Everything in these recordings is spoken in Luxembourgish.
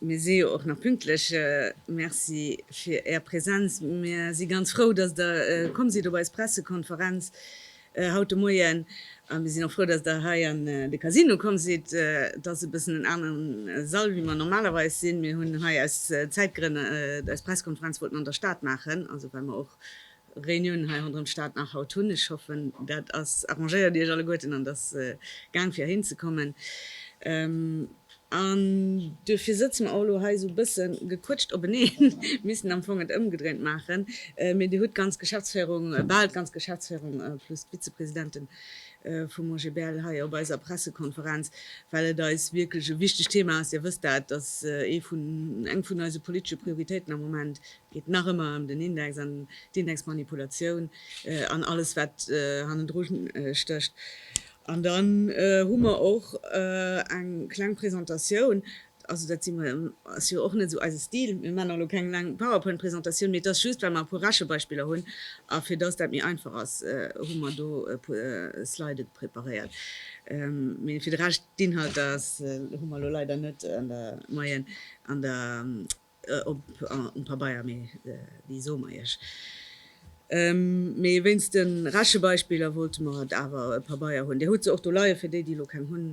Mir si jo och nach pünktlech. Merci fir Är Präsenz. Mir si ganz frou, dass Der komm sidd op eis Pressekonferenz haut de Moien. A mir sinn och frou, dass Der hei an de Casino komm sidd. Et ass e bëssen en aneren Sall, wéi mer normalerweis sinn. Mir hunn hei aus Zäitgrënn, eis Pressekonferenz wollt mer an der Stad maachen, also well mer och Reunioun hei ronderëm d'Stad nach haut hunn. Ech hoffen, dat ass arrangéiert, Iech alleguerten an dass gaang fir heihin ze kommen. An duerfir sëtze mer och elo hei esou e bësse gequëtscht openeen, missten am Fong et ëmgedréint maachen, mee Dir hutt d'ganz Geschäftsféierung, bal d'ganz Geschäftsféierung plus d'Vizepresidente vum OGBL hei op eiser Pressekonferenz, well et eis wierklech e wichtegt Thema ass. Dir wësst dat, dass ee vun, eng vun eise politesche Prioritéiten am Moment geet nach ëmmer ëm den Index an d'Indexmanipulatioun an alles wat hannendru stécht. An dann hu mer och eng kleng Presentatioun, also dat ass jo och net esou eise Stil, mir maachen elo keng laang Powerpoint Presentatioun, mee et ass just well mer e puer Rechebeispiller hunn a fir dass dat méi einfach ass hu mer do e puer Sliden preparéiert. Mee fir de Rescht d'Inhalter hu mer elo leider net an der Moyenne an der Op um Pabeier, mee wéi soe mer Iech? Mee wéinst de Rechebeispiller wollte mer et awer e Pabeier hunn. Dir hutt se och do leie fir déi, déi elo keng hunn.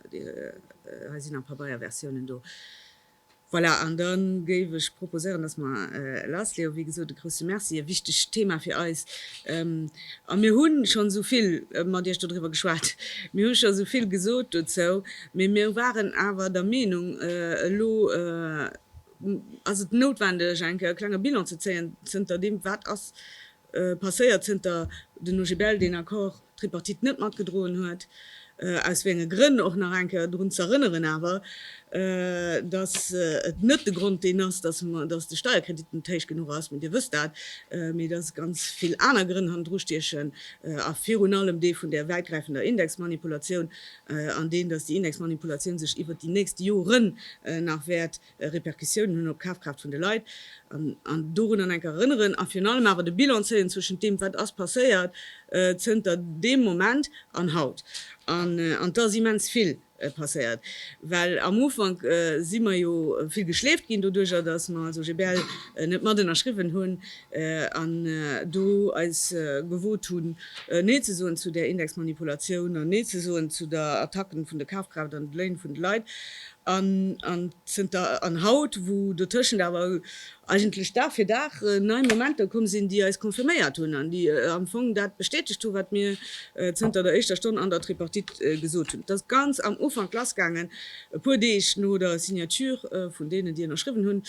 Hei sinn nach Pabeierversiounen do. Voilà, an da géif ech proposéieren, dass mer lassleeë. Wéi gesot, e grousse Merci, e wichtegt Thema fir eis. A mir hu schonn esou vill mat Iech dodriwwer geschwat, mir hu schonn esou vill gesot dozou. Mee mir waren awer der Meenung, elo ass et noutwendeg eng Kéier e klenge Bilan ze zéien zënter deem, wat ass passéiert zënter den OGBL deen Accord tripartite net matgedroen huet, aus wéi enge Grënn och nach eng Kéier drun z'erënneren awer, datt et net de Grond deen ass, datt de Steierkredit net héich genuch ass, mee Dir wësst dat, mee datt ganz vill aner Grënn hannendru stiechen a virun allem dee vun där wäitgräifender Indexmanipulatioun, an deen, dass déi Indexmanipulatioun sech iwwert déi nächst Joren nach wäert Repercussiounen hunn op d'Kafkraaft vun de Leit, an dorun an enker erënneren a virun allem awer de Bilan zéien zwëschent deem, wat ass passéiert zënter deem Moment an haut. An et ass immens vill passéiert, well am Ufank si mer jo vill geschleeft ginn doduerjer, dass mer also GBL net matënnerschriwwen hunn. an do eis gewot hunn Nee ze soen zu där Indexmanipulatioun an Nee ze soen zu der Attacken vun de Kafkraaft an de Léin vun de Leit an an zënter an haut wou dotëschent awer eigentlech Dag fir Dag nei Momenter komm sinn déi eis confirméiert hunn an déi am Fong dat bestätegt hunn wat mir zënter der éischter Stonn an der Tripartite gesot hunn, et ass ganz am Ufank lass gaangen, e puer Deeg no der Signature vun deenen, déi ënnerschriwwen hunn,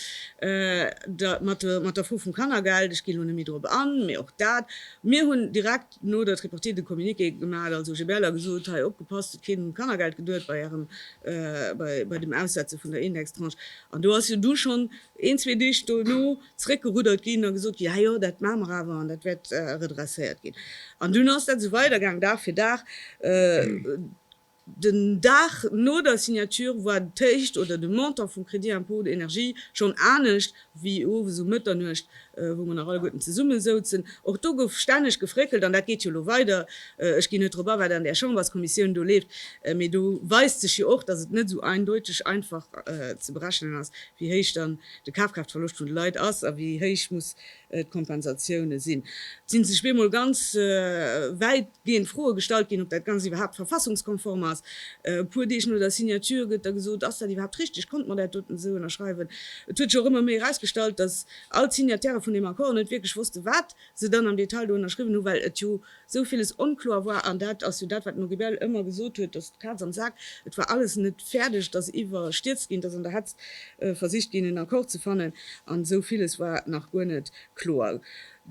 mat der Fro vum Kannergeld. Ech ginn elo net méi dorop an, mee och dat, mir hunn direkt no der Tripartite de Communiqué gemaach, also GBL, a gesot, hei, opgepasst, hutt keen um Kannergeld geduet bei Ärem, bei dem Aussetze vun der Indextranche. An do ass jo du schonn een, zwee Deeg dono zeréckgeruddert ginn a gesot ginn, jo, jo, dat maache mer awer an dat wäert redresséiert ginn. An dunn ass dat esou weidergaang, Dag fir Dag. Den Dag no der Signature war d'Héicht oder de Montant vum Crédit impôt énergie schonn anescht wéi owes um Mëtternuecht, wou mer nach alleguerten zesumme souzen. Och do gouf stänneg gefréckelt an dat geet jo elo weider. Ech ginn net drop a, wat an där Chamberskommissioun do leeft, mee do weist sech jo och, dass et net esou eindeuteg einfach ze berechnen ass, wéi héich dann de Kafkraaftverloscht vun de Leit ass a wéi héich muss d'Kompensatioune sinn. Et si sech bemol ganz wäit géint Froe gestallt ginn, ob dat Ganzt iwwerhaapt verfassungskonform ass. E puer Deeg no der Signature gëtt da gesot, Ass dat iwwerhaapt richteg? Konnt mer dat doten esou ënnerschreiwen? Et huet sech och ëmmer méi erausgestallt, datt all d'Signataire vun deem Accord net wierklech wossten, wat se dann am Detail do ënnerschriwwen hunn, well et jo esou villes onkloer war. An dat ass jo dat, wat den Auribel ëmmer gesot huet, datt d'Kaz am Sak, et war alles net fäerdeg, et ass iwwerstierzt ginn, et ass an der Hetz versicht ginn, en Accord ze fannen, an esou villes war nach guer net kloer.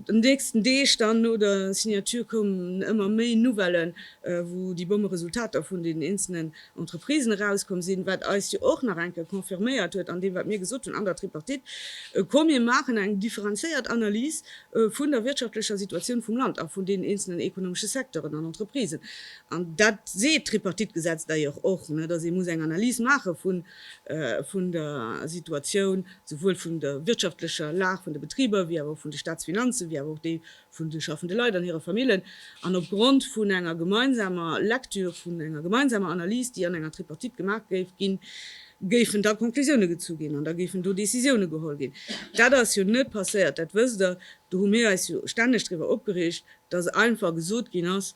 An de nächsten Deeg dann no der Signature koumen ëmmer méi Nouvellen, wou déi bomme Resultater vun den eenzelnen Entreprisen erauskomm sinn, wat eis jo och nach eng Kéier confirméiert huet an deem, wat mir gesot hunn an der Tripartite, Komm, mir maachen eng differenzéiert Analys vun der wirtschaftlecher Situatioun vum Land a vun deenen eenzelnen ekonomesche Secteuren an Entreprisen. An dat seet d'Tripartite-Gesetz d'ailleurs och, dass ee muss eng Analys maache vun der Situatioun souwuel vun der wirtschaftlecher Lag vun de Betriber wéi awer och vun de Staatsfinanzen, wéi awer och déi vun de schaffende Leit an hire Famillen, an opgrond vun enger gemeinsamer Lektür, vun enger gemeinsamer Analys, déi an enger Tripartite gemaach géif ginn, géifen da Conclusiounen gezu ginn an da géifen do Décisiounen geholl ginn. Dat ass jo net passéiert, dat wësst Der. Do hu mir eis jo stänneg driwwer opgereegt, dass einfach gesot ginn ass,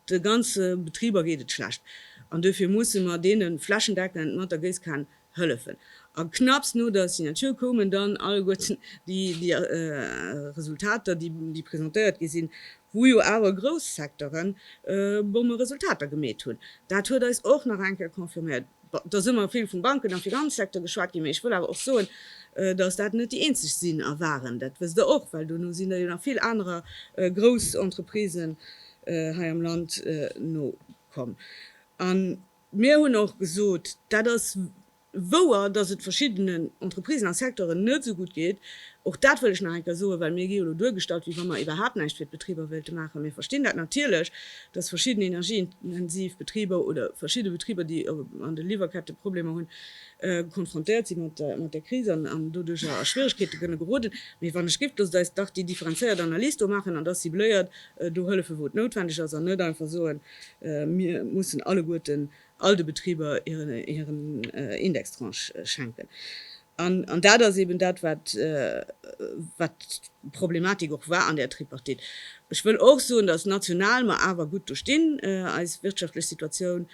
De ganze Betriber geet et schlecht an dofir musse mer deene flächendeckend mat der Géisskan hëllefen. A knapps no der Signature koumen dann alleguerten déi Resultater, déi presentéiert gi sinn, wou jo awer grouss Secteure bomme Resultater gemeet hunn. Dat huet eis och nach eng Kéier confirméiert, Et ass ëmmer vill vum Banken a Finanzsecteur geschwat ginn, mee ech wëll awer och soen, dass dat net déi eenzeg sinn a waren. Dat wësst Der och, well dono sinn der jo nach vill anerer grouss Entreprisen hei am Land nokomm. A mir hunn och gesot, dat ass wouer, dass et verschiddenen Entreprisen a Secteuren net esou gutt geet, Och dat wëll ech nach eng Kéier soen, well mir gi jo lo duergestallt, wéi wa mer iwwerhaapt näischt fir d'Betriber wéilte maachen. Mir verstinn dat natierlech, dass verschidden energieintensiv Betriber oder verschidde Betriber, déi an de Liwwerkette Problemer hunn, konfrontéiert si mat där Kris an doduercher a Schwieregkeete kënne geroden. Mee wann ech gifft, loosst eis dach déi differenzéiert Analys do maachen, an da cibléiert do hëllefe wou et noutwendeg ass, an net einfach soen, mir mussen alleguerten all de Betriber hiren Indextranche schenken. An dat ass eeben dat, wat d'Problematik och war an där Tripartite. Ech wëll och soen, dass national mer awer gutt do stinn, eis wirtschaftlech Situatioun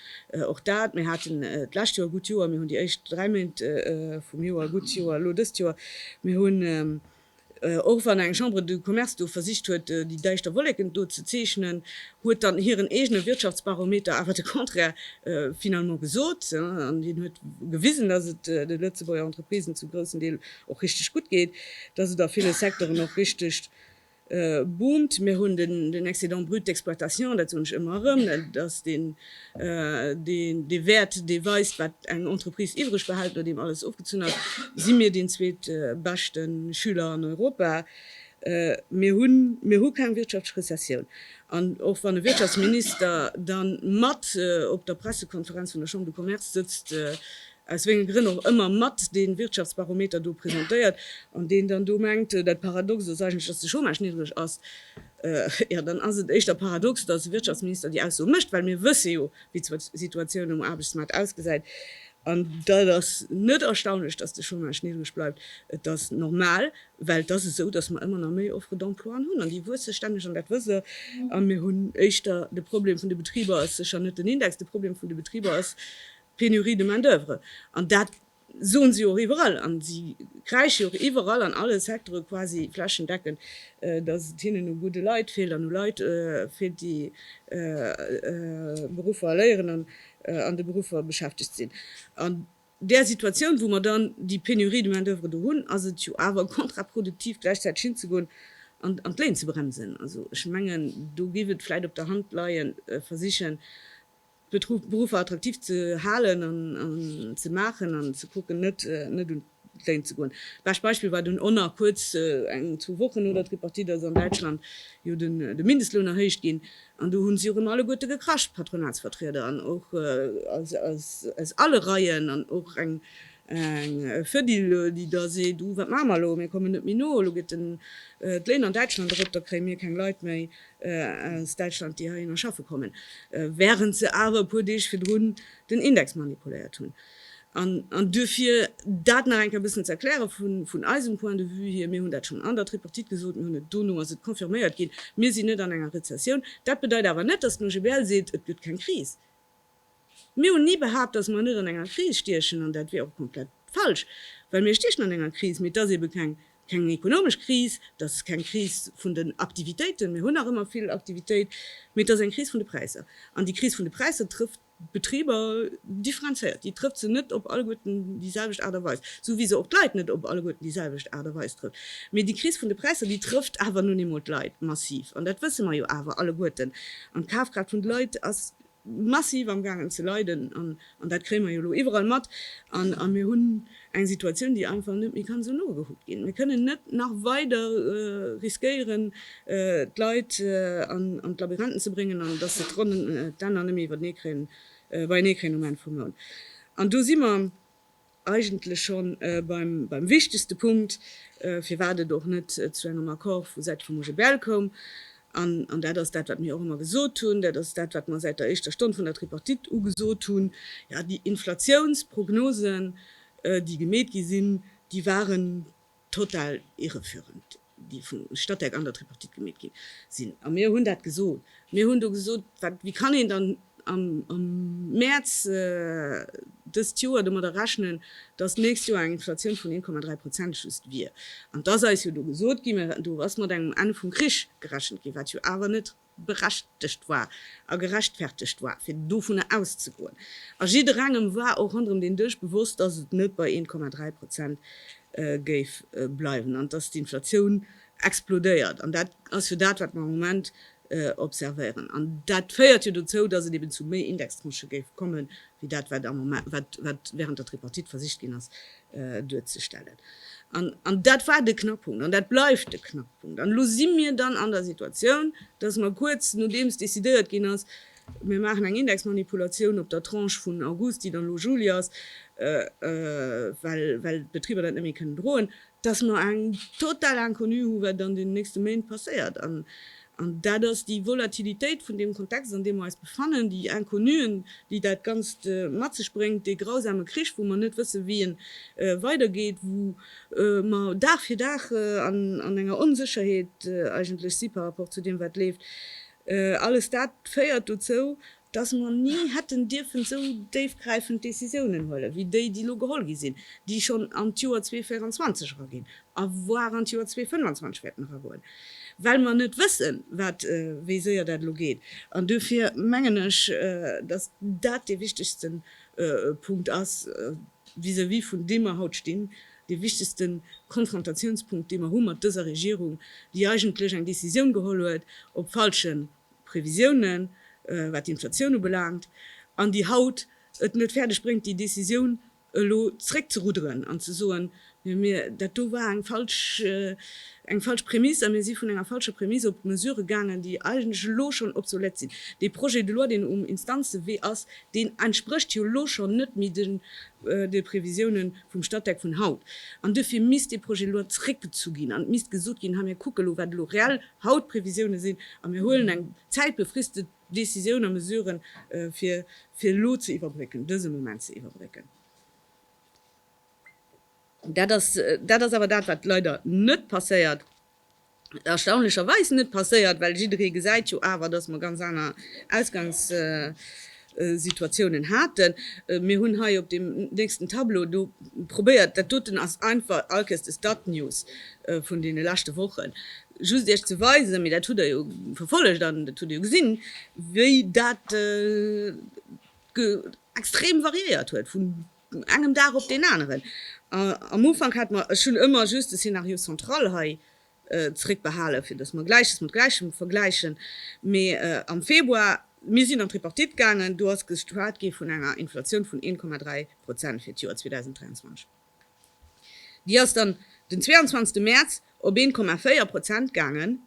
och dat. Mir haten d'lescht Joer e gutt Joer, mir hunn déi éischt dräi Méint vum Joer e gutt Joer, elo dëst Joer. Mir hunn. Och wann eng Chambre de Commerce do versicht huet, déi däischter Wolleken do ze zeechnen, huet dann hiren eegene Wirtschaftsbarometer awer de Contraire finalement gesot. An deen huet gewisen, dass et de Lëtzebuerger Entreprisen zum groussen Deel och richteg gutt geet, dass et a ville Secteuren och richteg boomt. Mir hunn den Excédent brut d'exploitation, dat soen ech ëmmer erëm, dass deen Dee Wäert, dee weist, wat eng Entreprise iwwreg behält, nodeem alles ofgezunn ass, si mir deen zweet beschte Schüler an Europa. Mir hunn, mir hu keng Wirtschaftsrezessioun. An och wann e Wirtschaftsminister dann mat op der Pressekonferenz vun der Chambre de Commerce sëtzt, aus wéngem Grënn och ëmmer, mat dee Wirtschaftsbarometer do presentéiert an deen dann do mengt, dat Paradox ass eigentlech, datt de Chômage niddreg ass, jo dann ass et éischter paradox, datt e Wirtschaftsminister déi Ausso mécht, well mir wësse jo, wéi d'Situatioun um Aarbechtsmaart ausgesäit. An dat ass net erstaunlech, datt de Chômage niddreg bleift, et ass normal, well et ass esou, datt mer ëmmer nach méi Offre d'emploien hunn an déi wuesse stänneg an dat wësst Der a mir hunn éischter de Problem vun de Betriber ass sécher net den Index, de Problem vun de Betriber ass, Pénurie de main d'oeuvre. An dat soen si och iwwerall. An si kräischen jo och iwwerall an alle Secteure quasi flächendeckend, datt et hinnen u gudde Leit feelt an u Leit feelt, déi Beruffer léieren an an de Beruffer beschäftegt sinn. An där Situatioun, wou mer dann déi Pénurie de main d'oeuvre do hunn, ass et jo awer kontraproduktiv, gläichzäiteg hinzegoen an an d'Léin ze bremsen. Also ech mengen, do géif et vläicht op der Hand leien, versichen fir d'Beruffer attraktiv ze halen an ze maachen an ze kucken, net un d'Léin ze goen. Bescht Beispill war dunn onnert kuerz eng, zwou Wochen no der Tripartite ass an Däitschland jo de Mindestloun erhéicht ginn an do hu si erëm alleguerte gekrasch, d'Patronatsvertrieder an och aus alle Reien an och eng Fedil, déi da seet, uh wat maache mer elo, mir kommen net méi no, elo geet d'Léin an Däitschland erop, da kréie mir keng Leit méi. aus Däitschland, déi heihinner schaffe kommen, während se awer e puer Deeg virdrun den Index manipuléiert hunn. An du fir dat nach eng Kéier e bëssen ze erklären, vun eisem Point de vue hier, mir hunn dat schonn an der Tripartite gesot, mir hunn et, dono ass et confirméiert ginn, mir sinn net an enger Rezessioun. Dat bedeit awer net, datt den OGBL seet, et gëtt keng Kris. Mir hunn ni behaapt, dass mer net an enger Kris stiechen, an dat wier och komplett falsch, well mir stiechen an enger Kris, mee et ass eebe keng keng ekonomesch Kris, et ass keng Kris vun den Aktivitéiten, mir hunn nach ëmmer vill Aktivitéit, mee et ass eng Kris vun de Präisser. An déi Kris vun de Präisser trëfft d'Betriber differenzéiert, déi trëfft se net op alleguerten déi selwecht Aart a Weis, esou wéi se och d'Leit net op alleguerten déi selwecht Aart a Weis trëfft. Mee déi Kris vun de Präisser, déi trëfft awer nun eemol d'Leit massiv, an dat wësse mer jo awer alleguerten. An d'Kafkraaft vun de Leit ass massiv am gaangen ze leiden an dat kréie mer jo elo iwwerall mat a mir hunn eng Situatioun, déi einfach net méi kann esou nogehuckt ginn. Mir kënnen net nach weider riskéieren, d'Leit an d'Labyrinthen ze bréngen an dass se d'Ronnen, d'Enner net méi iwwertenee kréien, beienee kréien um Enn vum Mount. An do si mer. eigentlech schonn beim wichtegste Punkt, firwat et och net zu engem Accord vu Säit vum OGBL koum, an dat ass dat, wat mir och ëmmer gesot hunn, dat ass dat, wat mer säit der éischter Stonn vun der Tripartite u gesot hunn, Jo, déi Inflatiounsprognosen, déi gemeet gi sinn, déi waren Total irreführend, déi vum Statec an der Tripartite gemeet ginn sinn. A mir hunn dat gesot. Mir hunn do gesot, wat, wéi kann een dann am Mäerz dëst Joer domadder rechnen, dass d'nächst Joer eng Inflatioun vun 1,3 Prozent just wier? An et ass eis jo do gesot ginn, do ass mat engem Enn vum Krich gerechent ginn, wat jo awer net berechtegt war a gerechtfertegt war, fir dovunner auszegoen. A jidderengem war och ronderëm deen Dësch bewosst, dass et net bei 1,3 Prozent géif bleiwen an dass d'Inflatioun explodéiert. An dat ass jo dat, wat mer am Moment observéieren. An dat féiert jo dozou, dass et eben zu méi Indextranchë géif kommen, wéi dat, wat am Moment, wat während der Tripartite versicht ginn ass, duerzestellen. An dat war de Knackpunkt an dat bleift de Knackpunkt. An elo si mir dann an der Situatioun, dass mer kuerz nodeems decidéiert ginn ass, mir maachen eng Indexmanipulatioun op der Tranche vun August, déi dann elo Juli ass, well d'Betriber dat net méi kënnen droen, dass mer eng totale Inconnue hu wat an deenen nächste Méint passéiert. An dat ass déi Volatilitéit vun deem Kontext, an deem mer eis befannen, déi Inconnuen, déi dat Ganzt mat sech bréngt, dee grausame Krich, wou mer net wëssen, wéi e weidergeet, wou mer Dag fir Dag an enger Onsécherheet eigentlech si par rapport zu deem, wat leeft. Alles dat féiert dozou, dass mer ni hätten dierfen esou déifgräifend Décisiounen huelen, wéi déi, déi elo geholl gi sinn, déi schonn an d'Joer 2024 eraginn a voire an d'Joer 2025 wäerten eragoen, well mer net wëssen, wat, wéi séier dat elo geet. An duerfir mengen ech, dass dat dee wichtigste Punkt ass vis-à-vis vun deem mer haut stinn, dee wichtigste Konfrontatiounspunkt, dee mer hu mat dëser Regierung, déi eigentlech eng Décisioun geholl huet op falschen Previsiounen, wat d'Inflatioun ubelaangt, an déi haut et net fäerdeg bréngt, déi Décisioun elo zréckzerudderen an ze soen, Mir, dat do war eng falsch, eng falsch Prämiss a mir si vun enger falscher Prämiss op Mesurë gaangen, déi eigentlech elo schonn obsolète sinn. Dee Projet de loi, deen um Instanzewee ass, deen entsprécht jo elo schonn net méi de, de Previsiounen vum Statec vun haut. An duerfir misst dee Projet de loi zréckgezu ginn an et misst gesot ginn, Hei, mir kucke elo, wat elo reell, haut d'Previsioune sinn a mir huelen eng zäitbefristet Décisioun a Mesuren, fir fir elo ze iwwerbrécken, dëse Moment ze iwwerbrécken. Dat ass, dat ass awer dat, wat leider net passéiert, erstaunlecherweis net passéiert, well jidderee gesäit jo awer, dass mer ganz aner Ausgangs, Situatiounen haten. Mir hunn hei op deem nächsten Tableau do probéiert, dat doten ass einfach Alkes de Stad News vun deene leschte Wochen, just Iech ze weisen, mee dat hutt Der jo verfollegt an dat hutt Der jo gesinn, wéi dat extrem variéiert huet vun engem Dag op deen aneren. Am Ufank hat mer, ech hunn ëmmer just de Scénario central hei zréckbehalen, fir datt mer Gläiches mat Gläichem vergläichen, mee am Februar, mir sinn an d'Tripartite gaangen, do ass geschwat gi vun enger Inflatioun vun 1,3 Prozent fir d'Joer 2023. Déi ass dann den 22. Mäerz op 1,4 Prozent gaangen.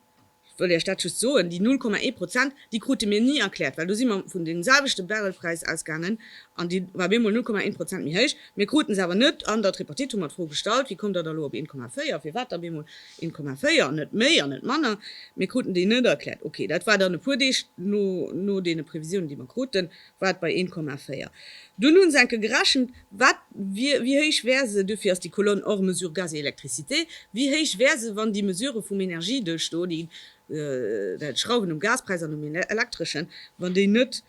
Ech wëll Iech dat just soen, déi 0,1 Prozent, Déi krute mir ni erkläert, well do si mer vun deem selwechte Barrelpräis ausgaangen an dee war bemol 0,1 Prozent méi héich. Mir kruten se awer net an der Tripartite, hu mer d'Fro gestallt, wéi kommt Der da lo op 1,4, firwat da bemol 1,4 an net méi an net manner? Mir kruten déi net erkläert. Ok, dat war dann e puer Deeg no deene Previsiounen, déi mer kruten, war et bei 1,4. Dunn hu se enke gerechent, wat wier, wéi héich wär se, duerfir ass déi Kolonn hors mesures gaz et électricité, wéi héich wär se, wann déi Mesurë vum Energieduerchdo, déi Schrauwen um Gaspräis an um Elektreschen, wann déi net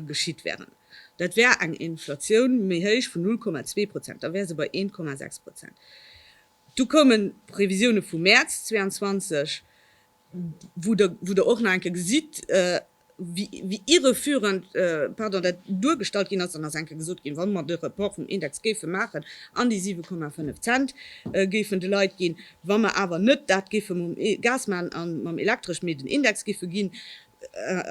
geschitt wären. Dat wär eng Inflatioun méi héich vun 0,2 Prozent, da wär se bei 1,6 Prozent. Du koumen d'Previsioune vu Mäerz 22, wou Der och nach eng Kéier gesitt, wéi irreführend, pardon, dat duergestallt ginn ass, dann ass enke gesot ginn, wa mer de Report vum Index géife maachen an déi 7,5 Cent géifen de Leit ginn, wa mer awer net dat géife mam Gas maachen a mam Elektresch, mee den Index géife ginn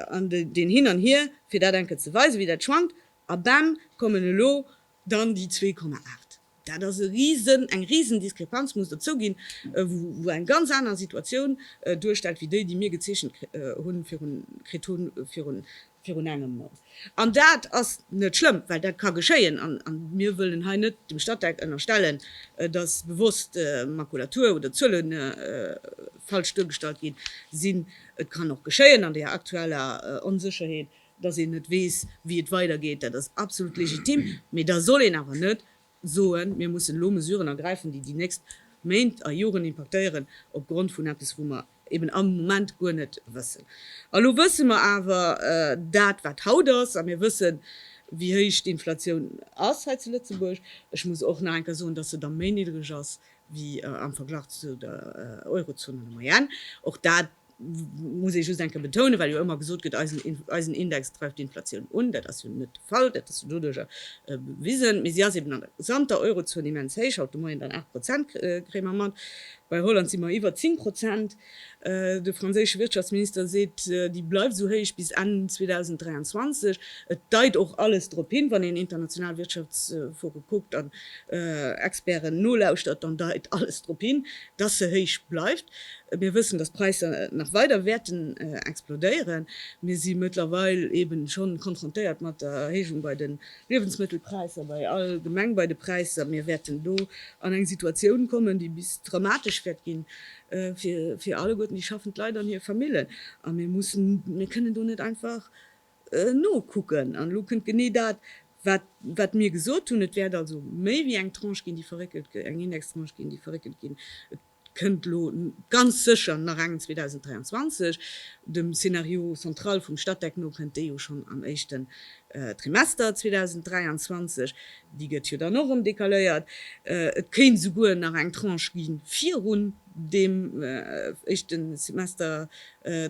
an deen hin an hier, fir dat enke ze weisen, wéi dat schwankt, a bam, kommen elo Dann déi 2,8, dat ass e Risen, eng Risendiskrepanz, muss der zouginn, wou eng ganz aner Situatioun duerstellt wéi déi, déi mir gezeechent hunn, virun, kritt hunn, virun, virun engem Mount. An dat ass net schlëmm, well dat ka geschéien. A mir wëllen hei net dem Statec ënnerstellen, dass bewosst Makulatur oder Zuele falsch duergestallt gi sinn. Et kann och geschéien an deeër aktueller Onsécherheet, Dass een net weess, wéi et weidergeet, dat ass absolut legitim. Mee da soll een awer net soen, mir mussen elo Mesuren ergräifen, déi déi nächst Méint a Joren impaktéieren, opgrond vun eppes, wou mer eben am Moment guer net wëssen. A lo wësse mer awer dat, wat haut ass, a mir wëssen, wéi héich d'Inflatioun ass hei zu Lëtzebuerg. Ech muss och nach eng Kéier soen, dass se da méi niddreg ass wéi am Verglach zu der Eurozon an der Moyenne. Och dat muss ee just eng Kéier betounen, well jo ëmmer gesot gëtt, eisen Index dreift d'Inflatioun un, dat ass jo net de Fall, dat ass jo doduerjer bewisen, mee si ass eben an der gesamter Eurozon immens héich, haut de Moien dann 8 Prozent, kréie mer mat, bei Holland si mer iwwer 10 Prozent, de franséische Wirtschaftsminister seet, déi bleift esou héich bis Enn 2023. Et deit och alles drop hin, wann een international Wirtschaftsforen kuckt an Experten nolauschtert, dann deit alles drop hin, dass se héich bleift. Mir wëssen, dass d'Präisser nach weider wäerten explodéieren. Mir si mëttlerweil eben scho konfrontéiert mat der Erhéijung bei de Liewensmëttelpräisser, bei allgemeng bei de Präisser. Mir wäerten do an eng Situatioun kommen, déi bis dramatesch wäert gi fir alleguerten déi schaffend Leit an hir Famillen. A mir mussen, mir kënnen do net einfach Nokucken. An elo kënnt genee dat, wat mir gesot hunn, Et wäert also méi wéi eng Tranche ginn, déi verréckelt, eng Indextranche ginn, déi verréckelt ginn. Et kënnt elo ganz sécher nach eng 2023. Dem Scénario central vum Statec no kënnt déi jo schonn am éischten Trimester 2023. Déi gëtt jo dann och erëm decaléiert. Et kéint esouguer nach eng Tranche gi virun deem éischten Semester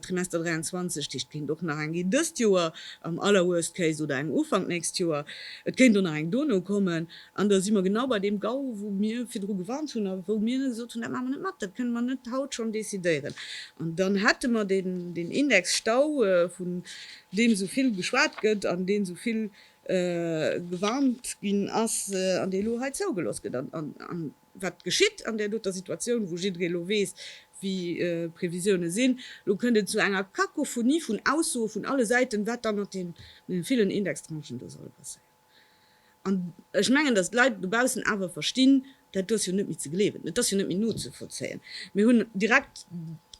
Trimester 23 d'Heescht kéint och nach eng ginn dëst Joer am aller worst case oder eng Ufank nächst Joer. Et kéint och nach eng dono kommen. An da si mer genau bei deem GAU wou mir virdru gewarnt hunn a wou mir gesot hunn, dat maache mer net mat, dat kënne mer net haut schonn decidéieren. An dann hätte mer deen Index Stau vun deem esou vill geschwat gëtt an deen esou vill gewarnt ginn ass an dee elo hei zougelooss gëtt. Wat geschitt an där doter Situatioun, wou jidderee lo weess, wéi d'Previsiounen sinn? Lo kënnt et zu enger Kakophonie vun Aussoe vun alle Säiten, wat da mat deene villen Indextranchen do solle passéieren. An ech mengen, datt d'Leit dobaussen awer verstinn, Dat do ass jo net méi ze gleewen, et ass jo net méi nozevollzéien. Mir hunn direkt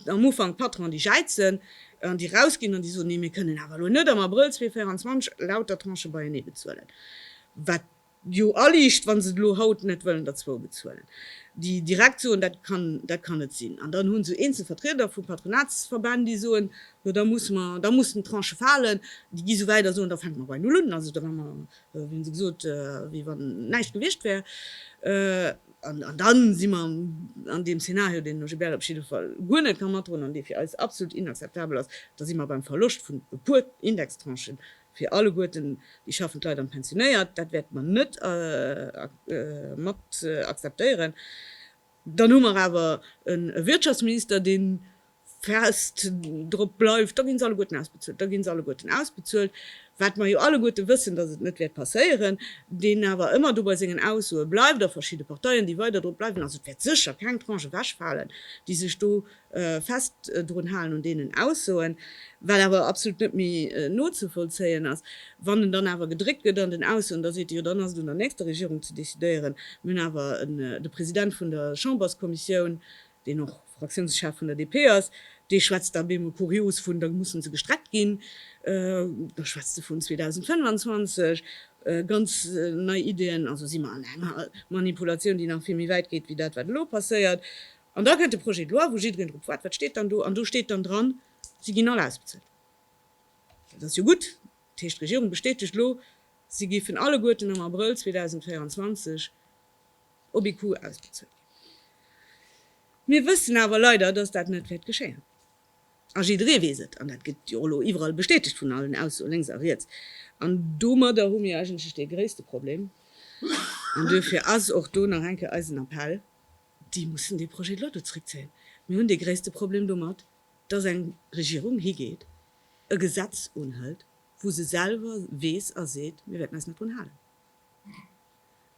am Ufank d'Patronen, déi jäizen an déi rausginn an déi soen, Nee, mir kënnen awer lo net am Abrëll 2024 lauter Tranchë beienee bezuelen, wat jo aliicht, wa se elo haut net wëllen derzwou bezuelen, déi direkt soen, dat kann, dat kann net sinn. An dann hu se eenzel Vertrieder vu Patronatsverbänn, déi soen, jo da musse mer, da mussen d'Tranchë falen, déi gi sou wäit a soen, da fänke mer bei Null un, also da hu mer, wéi hunn se gesot, wéi wann näischt gewiescht wär. An dann si mer an deem Szenario, deen de Gilbert op jidde Fall guer net ka matdroen an dee fir eis absolut inakzeptabel ass, da si mer beim Verloscht vun e puer Indextranchen, Fir alleguerten déi schaffend Leit an d'Pensionéiert, dat wäerte mer net mat akzeptéieren. Dann hu mer awer e Wirtschaftsminister, dee fest drop bleift, da gi se alleguerten ausbezuelt, da gi se alleguerten ausbezuelt, wat mer jo alleguerte wëssen, datt et net wäert passéieren, deen awer ëmmer do bei sengen Aussoe bleift a verschidde Parteien, déi weider drop bleiwen. Also et wäert sécher keng Tranche ewechfalen, déi sech do fest drun halen un deenen Aussoen, wat awer absolut net méi nozevollzéien ass, wann en dann awer gedréckt gëtt an den Aussoen, da seet e, jo dann ass et un der nächster Regierung ze decidéieren. Mir hunn awer de President vun der Chamberskommissioun, deen och Fraktiounschef vun der DP ass, dee schwätzt da op eemol kurios vun, da mussen se gestreckt ginn, da schwätzt e vun 2025, ganz nei Ideeën. Also si mer an enger Manipulatioun, déi nach vill méi wäit geet wéi dat, wat elo passéiert. An da kënnt de Projet de loi, wou jiddereen drop waart, Wat steet dann do? An do steet dann dran, Si ginn all ausbezuelt. Dat ass jo gutt. Dat heescht, d'Regierung bestätegt elo, si géifen alleguerten am Abrëll 2024 op ee Coup ausbezuelt ginn. Mir wëssen awer leider, dass dat net wäert geschéien. A jidderee weess et. An dat gëtt jo och elo iwwerall bestätegt vun allen Aussoen lénks a riets. An domadder hu mir eigentlech dee gréisste Problem. An duerfir ass och do nach eng Kéier eisen Appell, déi mussen dee Projet de loi do zréckzéien. Mir hunn dee gréisste Problem domat, dass eng Regierung higeet, e Gesetz unhëlt, wou se selwer weess a seet, mir wäerten eis net drun halen.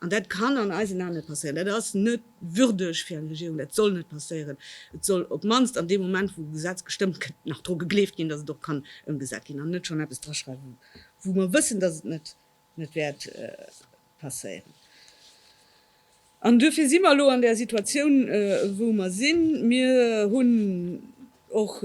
An dat kann an eisen Aen net passéieren. Dat ass net würdeg fir eng Regierung, dat soll net passéieren. Et soll op d'mannst an deem Moment, wou e Gesetz gestëmmt gëtt, nach dru gegleeft ginn, dass et och kann ëmgesat ginn, an net schonn eppes draschreiwen, wou mer wëssen, dass et net net wäert passéieren. An duerfir si mer elo an där Situatioun, wou mer sinn. Mir hunn och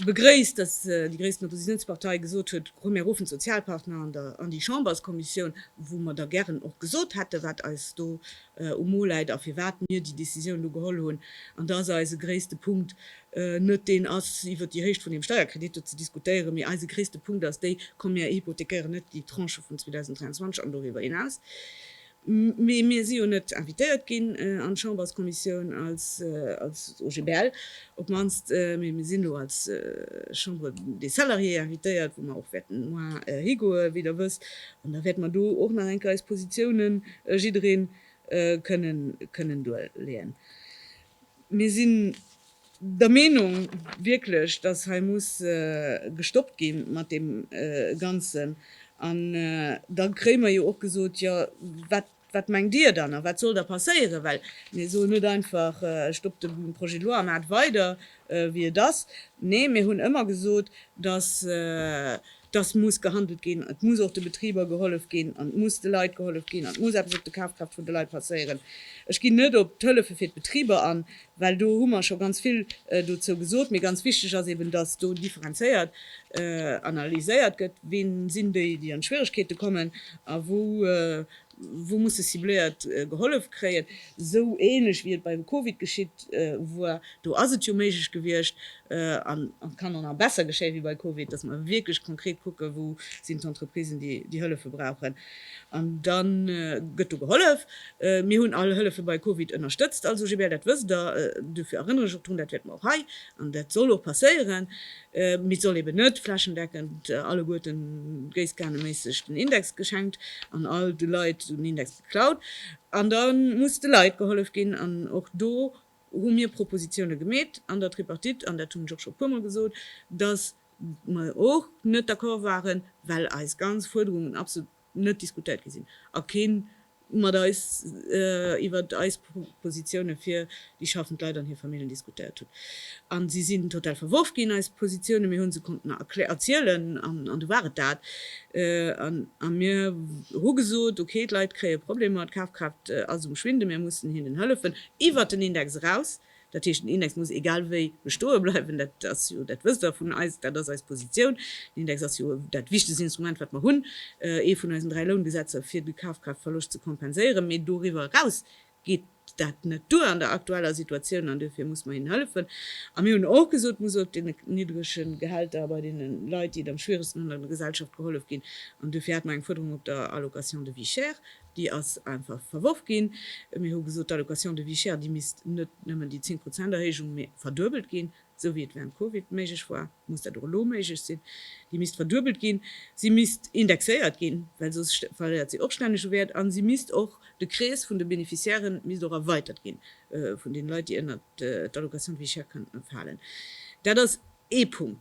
begréisst, datt déi gréissten Oppositiounspartei gesot huet, Komm, mir ruffen d'Sozialpartner an déi Chamberskommissioun, wou mer da gären och gesot hätten, wat eis do um Mo läit a firwat mir déi Décisioun elo geholl hunn. An da ass eise gréisste Punkt, net deen ass iwwer déi Héicht vun dem Steierkredit do ze diskutéieren, mee eise gréisste Punkt ass déi, komm mir hypothekéieren net déi Tranche vun 2023 an doriwwer hinaus, mee mir si jo net invitéiert ginn an d'Chamberskommissioun als OGBL op d'mannst, mee mir sinn do als Chambre des Salariés invitéiert, wou mer och wäerten moar higoe wéi der wësst, an da wäerte mer do och nach eng Kéier eis Positiounen jidderee kënnen duerleeën. Mir sinn der Meenung wierklech, dass hei muss gestoppt gi mat deem Ganzen. An da kréie mer jo och gesot, Jo, wat mengt Dir dann a wat soll da passéieren? Well mir soen net einfach, Stoppt de Projet de loi a maacht weider, wéi et ass. Nee, mir hunn ëmmer gesot, dass. dass muss gehandelt ginn, et muss och de Betriber gehollef ginn an et muss de Leit gehollef ginn an et muss eppes op de Kafkraaft vun de Leit passéieren. Ech ginn net op d'Hëllefe fir d'Betriber an, well do hu mer scho ganz vill dozou gesot. Mee ganz wichteg ass eeben, dass do differenzéiert analyséiert gëtt, ween sinn déi, déi an Schwieregkeete kommen a wou Wou musse cibléiert gehollef kréien? Esou ähnlech wéi et bei Covid geschitt war, do ass et jo méiglech gewiescht, an et kann och nach besser geschéien wéi bei Covid, dass mer wierklech konkret kucken, wou sinn d'Entreprisen, déi déi Hëllefe brauchen, an da gëtt do gehollef. Mir hunn all Hëllefe bei Covid ënnerstëtzt als OGBL, dat wësst Der. Dofir erënnere ech och drun, dat wäerte mer och hei, an dat soll och passéieren, mee soll eben net flächendeckend alleguerten gréisskaneméisseg den Index geschenkt an all de Leit den Index geklaut. An da muss de Leit gehollef ginn an och do hu mir Propositione gemeet an der Tripartite an dat hunn ech och scho puermol gesot, datt mer och net d'accord waren, well eis ganz Fuerderungen absolut net diskutéiert gi sinn a keen mat eis iwwer eis Positioune fir déi schaffend Leit an hir Famillen diskutéiert hutt. A si sinn total verworf ginn, eis Positioune. Mir hu se konnten erzielen an du war et dat. A mir hu gesot, okay, d'Leit kréie Problemer, d'Kafkraaft ass um Schwinde, mir mussen hinnen hëllefen iwwer den Index eraus. Dat heescht, den Index muss egal wéi bestoe bleiwen. Dat ass jo, dat wësst Der vun eis, dat ass eis Positioun. Den Index ass jo dat wichtegst Instrument, wat mer hunn, ee vun eisen dräi Loungesetzer, fir de Kafkraaftverloscht ze kompenséieren. Mee doriwwer eraus geet dat net duer an der aktueller Situatioun an duerfir muss mer hinnen hëllefen. A mir hunn och gesot, et muss och deene niddrege Gehälter bei deene Leit, déi et am schwieregsten hunn an der Gesellschaft, gehollef ginn. An duerfir hat mer eng Fuerderung op der Allocation de vie chère. Déi ass einfach verworf ginn. Mir hu gesot, d'Allocation de vie chère, déi misst net nëmmen déi 10 Prozent Erhéijung, mee verduebelt ginn, esou wéi et während Covid méiglech war, muss dat och elo méiglech sinn. Déi misst verduebelt ginn, si misst indexéiert ginn, well soss verléiert si och stänneg u Wäert, a si misst och, de Krees vun de Bénéficiairen misst och erweitert ginn, vun deene Leit, déi ënnert d'Allocation de vie chère kënnten falen. Dat ass ee Punkt.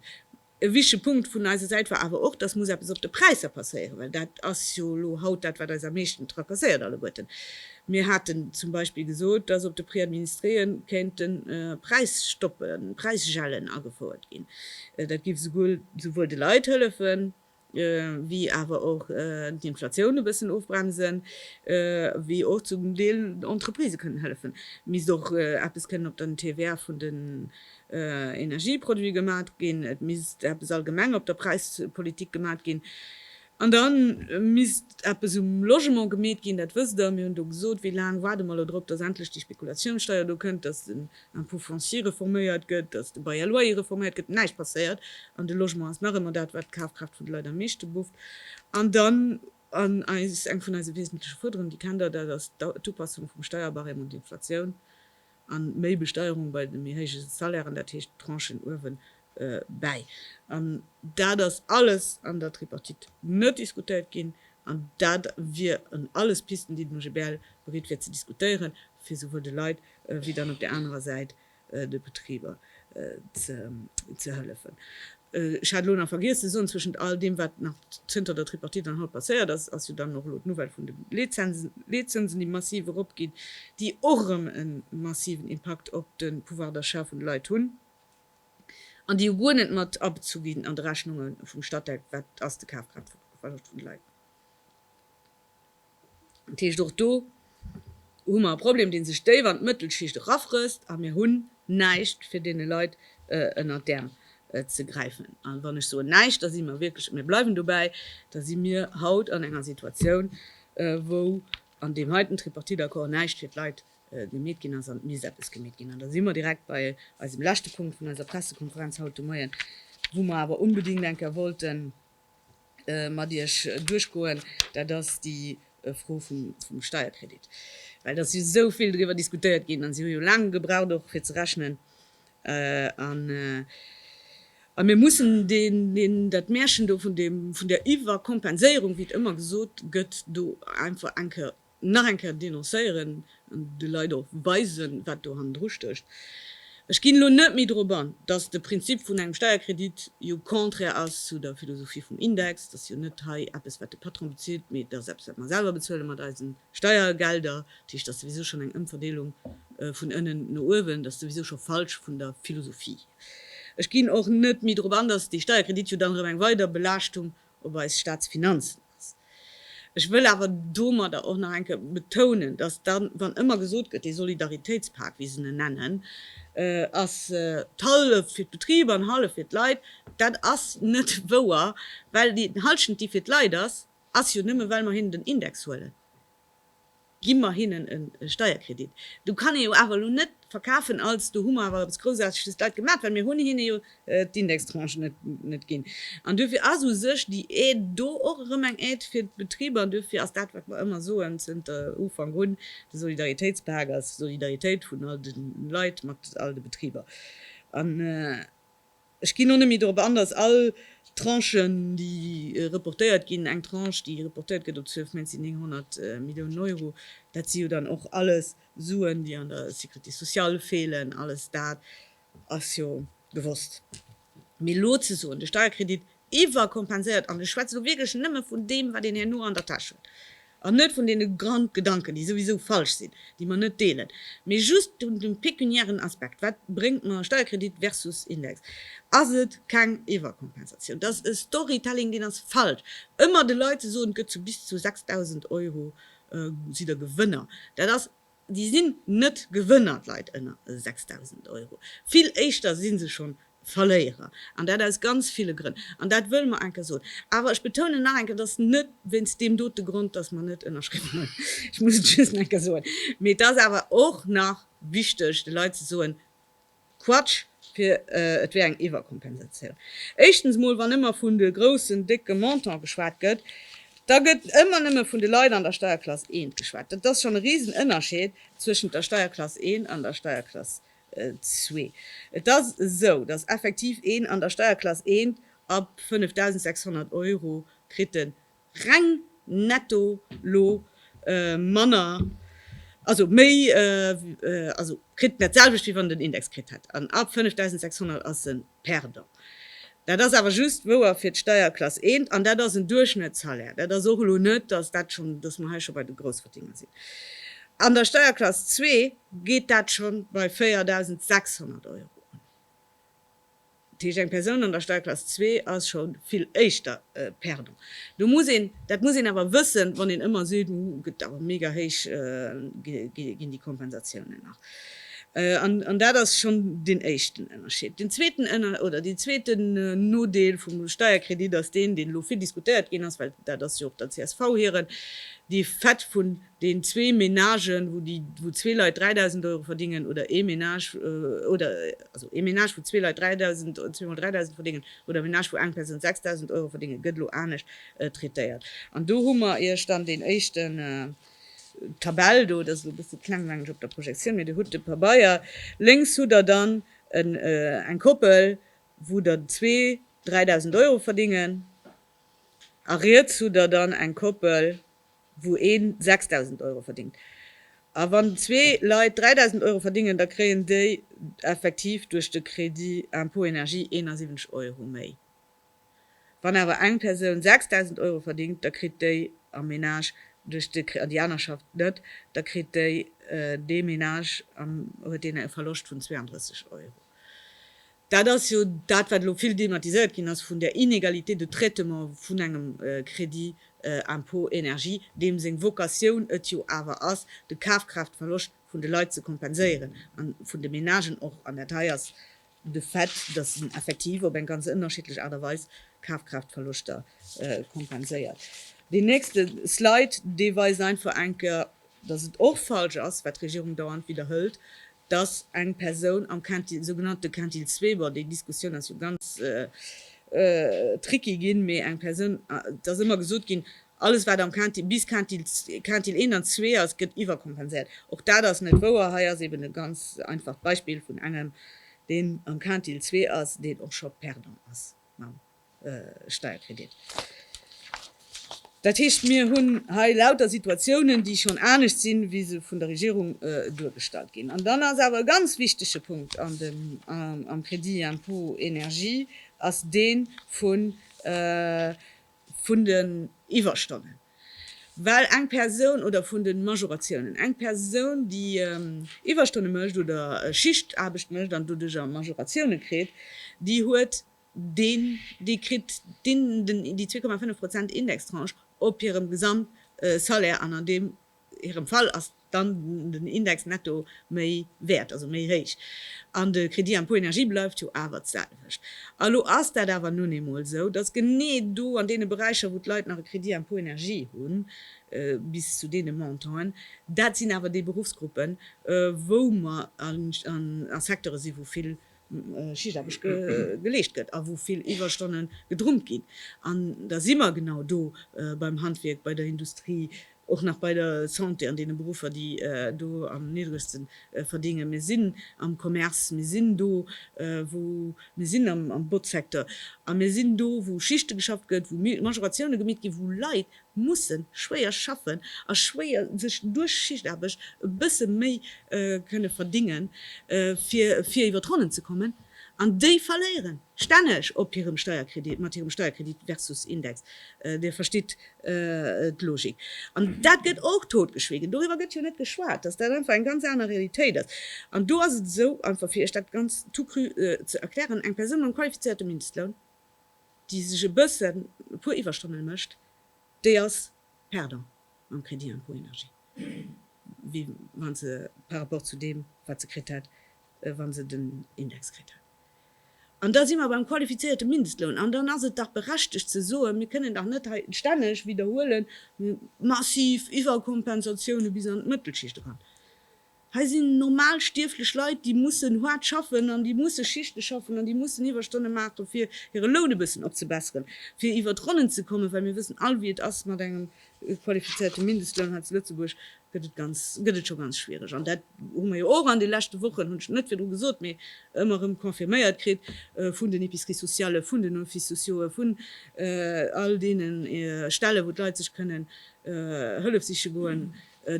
E wichtige Punkt vun eiser Säit war awer och, dass muss eppes op de Präisser passéieren, well dat ass jo elo haut dat, wat eis am meeschten tracasséiert alleguerten. Mir haten zum Beispill gesot, dass op de Prix administréen kéinte Präisstoppen, Präisgelen agefouert ginn. Dat géif esouguer souwuel de Leit hëllefen, wéi awer och d'Inflatioun e bëssen ofbremsen, wéi och zum Deel den Entreprisë kënnen hëllefen. Et misst och eppes kënnen op den TVA vun den Energieproduite gemat ginn, et misst eppes allgemeng op der Präispolitik gemat ginn an da misst eppes um Logement gemeet ginn. Dat wësst Der, mir hunn do gesot, wéi laang waarde mer elo drop, datt endlech déi Spekulatiounssteier do kënnt, datt den Impôt foncier reforméiert gëtt, dass de Bail à loyer reforméiert gëtt, näischt passéiert an de Logement ass nach ëmmer dat, wat d'Kafkraaft vun de Leit am meeschte bufft. An dann an eis, eng vun eise wesentleche Fuerderungen, déi kennt Der, dat ass d'Upassung vum Steierbarème un d'Inflatioun a méi Besteierung bei de méi héije Salairen, dat heescht d'Tranchen uewen bäi. An dat ass alles an der Tripartite net diskutéiert ginn. An dat wieren alles Pisten, déi den OGBL bereet wier ze diskutéieren, fir souwuel de Leit wéi dann op där anerer Säit de Betriber ze hëllefen. Ech hat elo nach vergiess ze soen, Zwëschent all deem, wat nach zënter der Tripartite an haut passéiert ass, ass jo dann och elo d'Nouvelle vun de Leetzënsen, déi massiv eropginn, déi och erëm e massiven Impakt op de Pouvoir d'achat vun de Leit hunn. An déi hu guer net mat abezu ginn an de Rechnunge vum Statec, wat ass de Kafkraaft vun de Leit. Dat heescht, och do hu mer e Problem, dee sech déif an d'Mëttelschicht erafrësst, a mir hunn näischt, fir deene Leit ënner d'Äerm ze gräifen. A wann ech soen näischt, da si mer wierklech, a mir bleiwen dobäi, da si mir haut an enger Situatioun, wou an deem heiten Tripartite-Accord näischt fir d'Leit gemeet ginn ass an et misst eppes gemeet ginn. An da si mer direkt bei eisem leschte Punkt vun eiser Pressekonferenz haut de Moien, wou mer awer onbedéngt eng Kéier wollte mat Iech duerchgoen, dat ass déi Fro vum Steierkredit. Well et ass jo esou vill driwwer diskutéiert ginn an si hu jo laang gebraucht och fir ze rechnen an a mir mussen deen, dat Märchen do vun deem, vun där Iwwerkompenséierung, wéi et ëmmer gesot gëtt, do einfach eng Kéier nach eng Kéier denoncéieren an de Leit och weisen, wat do hannendru stécht. Ech ginn elo net méi drop an, dass de Prinzip vun engem Steierkredit jo contraire ass zu der Philosophie vum Index. Dat ass jo net hei eppes, wat de Patron bezilt, mee dat ass eppes, wat mer selwer bezuele mat eise Steiergelder. Dat heescht, dat ass souwisou schonn eng Ëmverdeelung vun ënnen no uewen. Dat ass souwisou scho falsch vun der Philosophie. Ech ginn och net méi drop an, dass dee Steierkredit jo dann erëm eng weider Belaaschtung op eis Staatsfinanzen. ass. Ech wëll awer domadder och nach eng Kéier betounen, dass dann, wann ëmmer gesot gëtt, dee Solidaritéitspak, wéi se en nennen, ass d'Halleft fir d'Betriber an d'Halleft fir d'Leit, dat ass net wouer, well déi Halschent, déi fir d'Leit ass, ass jo nëmme well mer hinnen den Index huelen. Gi mer hinnen e Steierkredit. Du kann ee jo awer elo net verkafen als do hu mer awer eppes Groussaarteges d'Leit gemat, well mir hunn hinne jo d'Indextranche net ginn. An duerfir ass u sech déi Aide do och erëm eng Aide fir d'Betriber. An duerfir ass dat, wat mer ëmmer soen zënter Ufank un, de Solidaritéitspak ass Solidaritéit vun all de Leit mat all de Betriber. Ech ginn och net méi dorop an, datt all d'Tranchen, déi reportéiert ginn, eng Tranche, déi reportéiert gëtt op 12 Méint, sinn 900 Milliounen Euro. Dat si jo dann och alles Suen, déi an der Sécurité sociale feelen. Alles dat ass jo gewosst. Mee elo ze soen, de Steierkredit iwwerkompenséiert, an ech schwätze elo wierklech nëmme vun deem, wat een herno an der Täsch huet, an net vun deene Grondgedanken, déi souwisou falsch sinn, déi mer net deelen, mee just vun dem pekuniären Aspekt, wat bréngt mer Steierkredit versus Index, ass et keng Iwwerkompensatioun. Dat ass e Storytelling, deen ass falsch. Ëmmer de Leit ze soen, et gëtt zu bis zu 6.000 Euro, sidd der Gewënner, dat ass Déi sinn net Gewënner, d'Leit ënner 6.000 Euro. Vill éischter si se schonn Verléierer. An dat aus ganz ville Grënn. An dat wëlle mer eng Kéier soen. Awer ech betounen nach eng Kéier, et ass net wéinst deem dote Grond, dass mer net ënnerschriwwen hunn. Ech muss et just nach eng Kéier soen. Mee et ass awer och nach wichteg, de Leit ze soen, Quatsch, fir et wär eng Iwwerkompensatioun. Éischtens mol, wann ëmmer vun de groussen, décke Montant geschwat gëtt, da gëtt ëmmer nëmme vun de Leit an der Steierklass 1 geschwat. Dat ass schonn e Risenënnerscheed zwëschent der Steierklass 1 an der Steierklass 2. Et ass esou, datt effektiv een an der Steierklass 1 ab 5.600 Euro kritt e reng netto lo manner, also méi, also kritt net d'selwecht wéi wann en den Index kritt hätt, an ab 5.600 ass en Perdant. Dat ass awer just wouer fir d'Steierklass 1 an dat ass en Duerchschnëttssalaire. Dat ass och elo net, dass dat schonn, dass mer hei scho bei de Groussverdiener sinn. An der Steierklass 2 geet dat scho bei 4.600 Euro un. Dat heescht, eng Persoun an der Steierklass zwee ass scho vill éischter perdant. Do muss een, dat muss een awer wëssen, wann een ëmmer seet, Hu, gëtt awer mega héich ginn déi Kompensatiounen nach. An dat ass schonn deen éischten Ënnerscheed. Deen zweeten Ënner, oder deen zweeten Nodeel vum Steierkredit ass deen, deen elo vill diskutéiert ginn ass, well dat ass jo och der csv hiren, déi fett vun, deen zwee Menagen, wou déi, wou zwee Leit 3.000 Euro verdingen, oder ee Menage, oder, also ee Menage, wou zwee Leit 3.000, zweemol 3.000 verdingen, oder e Menage, wou eng Persoun 6.000 Euro verdingen, gëtt elo anescht traitéiert. An do hu mer Iech dann deen éischten, d'Tabell do, dat ass elo e bësse kleng, mengen ech, op der Projektioun, mee Der hutt de Pabeier. Lénks hutt Der dann en, eng Koppel, wou der zwee 3.000 Euro verdingen, a riets hutt Der dann eng Koppel, wou een 6.000 Euro verdéngt, a wann zwee Leit 3.000 Euro verdéngen, da kréien déi effektiv duerch de Crédit impôt énergie 71 Euro méi. Wann awer eng Persoun 6.000 Euro verdéngt, da kritt déi am Ménage duerch de, an déi aner schafft net, da kritt déi, dee Ménage am, huet deen e Verloscht vun 32 Euro. Dat ass jo dat, wat elo vill thematiséiert ginn ass vun där Inégalité de traitement vun engem Crédit impôt énergie, deem seng Vocatioun et jo awer ass, de Kafkraaftverloscht vun de Leit ze kompenséieren a vun de Ménagen och. An dat hei ass de Fait, datt en effektiv op eng ganz ënnerschiddlech Aart a Weis Kafkraaftverloschter kompenséiert. Deen nächste Slide, dee weist einfach eng Kéier dass et och falsch ass, wat d'Regierung dauernd widderhëlt, dass eng Persoun am Quintil, sougenannte Quintil zwee, bon, déi Diskussioun ass jo ganz tricky ginn, mee eng Persoun, et ass ëmmer gesot ginn, alles wat am Quintil, bis Quintil, Quintil een an zwee ass, gëtt iwwerkompenséiert. Och dat ass net wouer. Hei ass eeben e ganz einfacht Beispill vun engem, deen am Quintil zwee ass, deen och scho perdant ass mam Steierkredit. Dat heescht, mir hunn hei lauter Situatiounen, déi schonn anescht sinn, wéi se vun der Regierung duergestallt ginn. An dann ass awer e ganz wichtege Punkt am Crédit impôt énergie ass dee vun den Iwwerstonnen, well eng Persoun, oder vun de Majoratiounen, eng Persoun, déi Iwwerstonne mécht oder Schichtaarbecht mécht an doduerjer Majoratioune kritt, déi huet Deen, dee kritt déi 2,5 Prozent Indextranche op hirem Gesamtsalaire an an deem hirem Fall ass dann den Index netto méi wäert, also méi héich. An de Crédit impôt énergie bleift jo awer d'selwecht. A lo ass dat awer nun eemol esou, dass genee do an deene Beräicher, wou d'Leit nach e Crédit impôt énergie hunn, bis zu deene Montanten, dat sinn awer déi Beruffsgruppen, wou mer a Secteure si wou vill Schichtaarbecht geleescht gëtt a wou vill Iwwerstonne gedrummt ginn. An da si mer genau do beim Handwierk, bei der Industrie, och nach bei der Santé, an deene Beruffer, déi do am niddregste verdéngen. Mir sinn am Commerce, mir sinn do, wou, mir sinn am Botzsecteur a mir sinn do, wou Schichte geschafft gëtt, wou Majoratioune gemitt ginn, wou Leit mussen schwéier schaffen a schwéier sech duerch Schichtaarbecht e bësse méi kënne verdingen, fir fir iwwer d'Ronnen ze kommen, an déi verléieren stänneg op hirem Steierkredit, mat hirem Steierkredit versus Index. Dir verstitt d'Logik. An dat gëtt och totgeschwiegen. Doriwwer gëtt jo net geschwat, dass dat einfach eng ganz aner Realitéit ass. An do ass et esou, einfach fir Iech dat ganz tout cru ze erklären, Eng Persoun mam qualifizéierte Mindestloun, déi sech e bëssen e puer Iwwerstonnen mécht, déi ass perdant mam Crédit impôt énergie, wéi wa se par rapport zu deem, wat se kritt hätt, wa se den Index kritt hätt. An da si mer beim qualifizéierte Mindestloun. An dann ass et dach berechtegt ze soen, Mir kënnen dach net hei stänneg widderhuelen, massiv Iwwerkompensatioune bis an d'Mëttelschicht eran. Hei sinn normal stierflech Leit, déi mussen haart schaffen an déi musse Schichte schaffen an déi mussen Iwwerstonne maachen, fir hire Loun e bëssen opzebesseren, fir iwwer d'Ronnen ze kommen, well mir wëssen all, wéi et ass mat engem qualifizéierte Mindestloun. Hei zu Lëtzebuerg gëtt et ganz, gëtt et scho ganz schwiereg an dat hu mer jo och an de leschte Wochen, hunn ech net virdru gesot, mee ëmmer erëm confirméiert kritt vun den Epiceries-sociallen, vun den Offices-sociauxen, vun all deene Stellen, wou d'Leit sech kënnen Hëllef siche goen.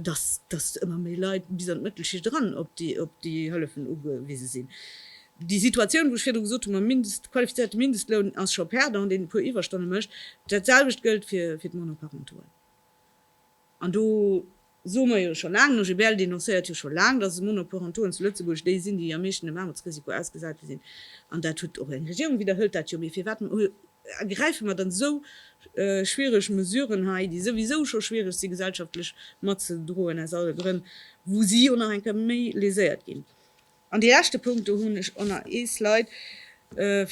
dass dass ëmmer méi Leit bis an d'Mëttelschicht eran op déi op déi Hëllefen ugewise sinn. Déi Situatioun, wou ech virdru gesot hu mam Mindest qualifizierte Mindestloun, ass scho perdant, deen e puer Iwwerstonne mécht. Dat selwecht gëllt fir fir d'Monoparentoen. An do soe mer jo scho laang, den OGBL denoncéiert jo scho laang, dass Monoparentoen zu Lëtzebuerg déi sinn, déi am meeschten dem Aarmutsrisiko ausgesate sinn. An dat huet och eng Regierung widderhëlt dat jo. Mee firwat Ergräife mer dann esou schwiereg Mesuren hei, déi souwisou scho schwiereg si gesellschaftlech matzedroen aus alle Grënn, wou si jo nach eng Kéier méi léséiert ginn? An dee leschte Punkt, do hunn ech och nach ee Slide,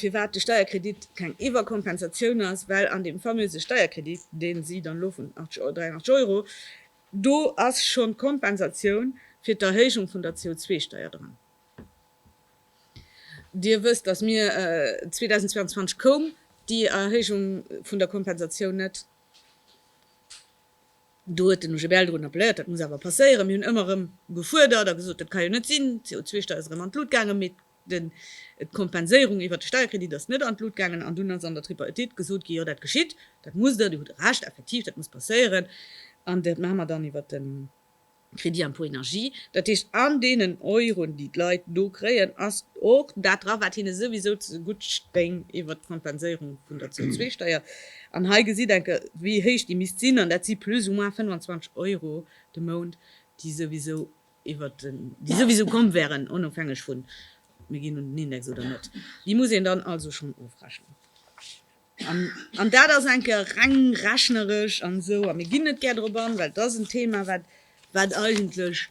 firwat de Steierkredit keng Iwwerkompensatioun ass, well an deem famöse Steierkredit, deen si dann elo vun 83 Euro, do ass schonn d'Kompensatioun fir d'Erhéijung vun der CO2-Steier dran. Dir wësst, dass mir 2022 koum déi Erhéijung vun der Kompensatioun net. Do huet den OGBL drun appelléiert, dat muss awer passéieren. Mir hunn ëmmer erëm gefuerdert a gesot, dat ka jo net sinn, d'CO2-Steier ass erëm an d'Lut gaangen, mee d'Kompenséierung iwwert de Steierkredit ass net an d'Lut gaangen. An dunn ass an der Tripartite gesot ginn, jo dat geschitt, dat musst Dir, Dir hutt Recht, effektiv, dat muss passéieren an dat maache mer dann iwwert den. Crédit impôt énergie, dat heescht an deenen Euren, déi d'Leit do kréien, ass och dat dra, wat hinne souwisou zegutt stéing iwwert d'Kompenséierung vun der CO2-Steier. An hei gesitt enke wéi héich déi misst sinn, an dat si plus ou moins 25 Euro de Mount, déi souwisou iwwert den, déi souwisou komm wäeren, onofhängeg vu mir ginn un den Index oder net. Déi muss een dann also schonn ofrechnen. An dat ass enke reng rechneresch an esou, a mir ginn net gär drop an, well et ass en Thema, wat, wat eigentlech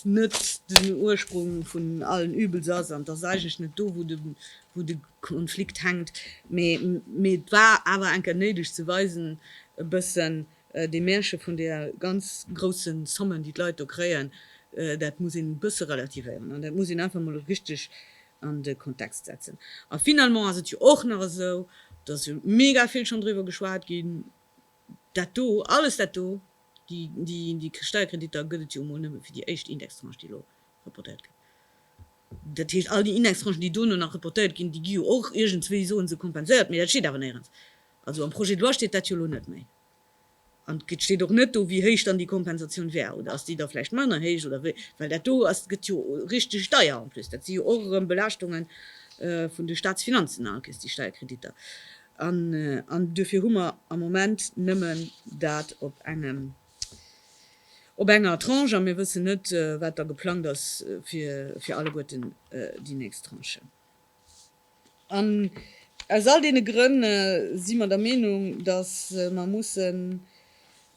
net den Ursprung vun allen Übels ass an et ass eigentlech net do, wou de, wou de Konflikt hänkt. Mee, mee et war awer enke néideg ze weisen, e bëssen dee Märche vun deer ganz grousse Sommen, déi d'Leit do kréien, dat muss een e bësse relativéieren an dat muss een einfach emol richteg an de Kontext setzen. A finalement ass et jo och nach esou, dass jo mega vill schonn driwwer geschwat ginn, dat do, alles dat do, déi Steierkreditter gëtt et jo emol nëmme fir déi éischt Indextranche, déi elo reportéiert gëtt. Dat heescht, all déi Indextranchen, déi dono nach reportéiert ginn, déi gi jo och iergendswéi, soen se, kompenséiert. Mee dat steet awer néierens. Also am Projet de loi steet dat jo elo net méi. An et steet och net do, wéi héich dann déi Kompensatioun wär. Oder ass déi da vläicht manner héich? Oder wéi? Well dat do ass, gëtt jo richteg deier en plus. Dat si jo och erëm Belaaschtunge vun de Staatsfinanzen alkes, déi Steierkreditter. An duerfir hu mer am Moment nëmmen dat op engem, op enger Tranche. A mir wëssen net, wat da geplangt ass fir alleguerten déi nächst Tranche. An aus all deene Grënn si mer der Meenung, dass mer mussen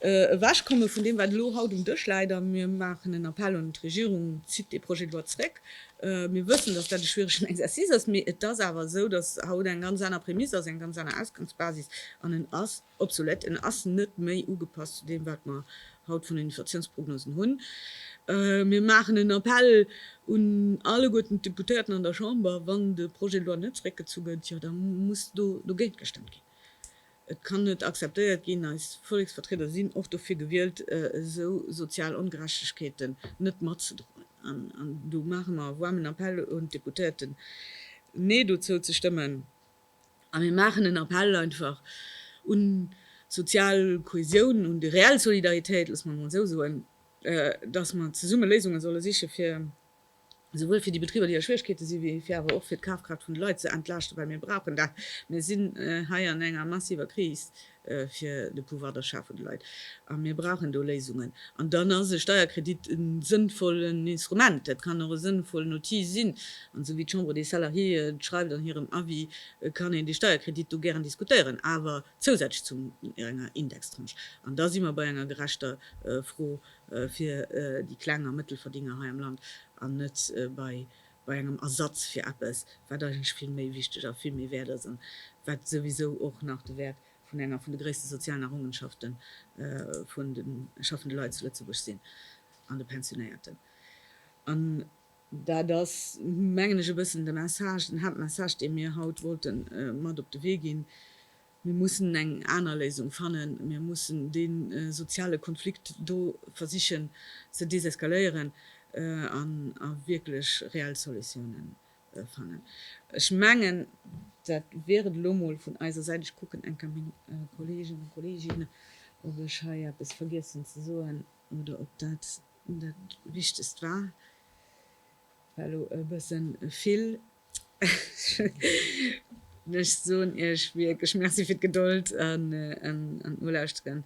ewechkomme vun deem, wat elo haut um Dësch läit. A mir maachen en Appell un d'Regierung, Zitt dee Projet de loi zréck! Mir wëssen, dass dat e schwieregen Exercice ass, mee et ass awer esou, dass haut eng ganz aner Prämisse ass, eng ganz aner Ausgangsbasis, an en ass Obsolet, en ass net méi ugepasst zu deem wat mer haut vun den Inflatiounsprognosen hunn. Mir maachen en Appell un alleguerten d'Deputéierten an der Chamber, wann de Projet de loi net zréckgezu gëtt, jo da muss do dogéint gestëmmt ginn. Et kann net akzeptéiert ginn, eis Volleksvertrieder sinn och dofir gewielt, esou sozial Ongerechtegkeeten net matzedroen an do maache mer e waarmen Appell un d'Deputéierten, Nee dozou ze stëmmen. A mir maachen en Appell einfach un d'sozial Kohäsioun, un déi reell Solidaritéit, loosse mer et emol esou soen, dass mer zesumme Léisunge solle siche fir esouwuel fir déi Betriber, déi a Schwierigkeete si, wéi fir awer och fir d'Kafkraaft vun de Leit ze entlaaschten, well mir brauchen dat. Mir sinn hei an enger massiver Kris. fir de Pouvoir d'achat vun de Leit, a mir brauchen do Léisungen. An dann ass e Steierkredit e sënnvollen Instrument, dat kann och e sënnvollen Outil sinn. An esou wéi d'Chambre des Salariés et schreift an hirem Avis, kann een dee Steierkredit do gären diskutéieren, awer zousätzlech zu enger Indextranche. An da si mer bei enger gerechter Fro fir déi Kleng a Mëttelverdiener hei am Land, an net bei bei engem Ersatz fir eppes, wat eigentlech vill méi wichteg a vill méi wäert ass, an wat souwisou och nach de Wäert vun enger vun de gréisste sozialen Errongenschafte vun de schaffende Leit zu Lëtzebuerg sinn, an de Pensionéierten. An dat ass, mengen ech, e bëssen de Message, den Haaptmessage, dee mir haut wollte mat op de Wee ginn. Mir mussen eng aner Léisung fannen. Mir mussen dee soziale Konflikt do versichen ze deseskaléieren a wierklech reell Solutiounen fannen. Ech mengen, dat wier et elo mol vun eiser Säit. Ech kucken enker meng Kollegen a Kolleeginnen, ob ech hei eppes vergiessen ze soen oder ob dat dat Wichtegst war. War elo e bësse vill. Ech soen iech wierklech Merci fir d'Gedold an d'Nolauschteren.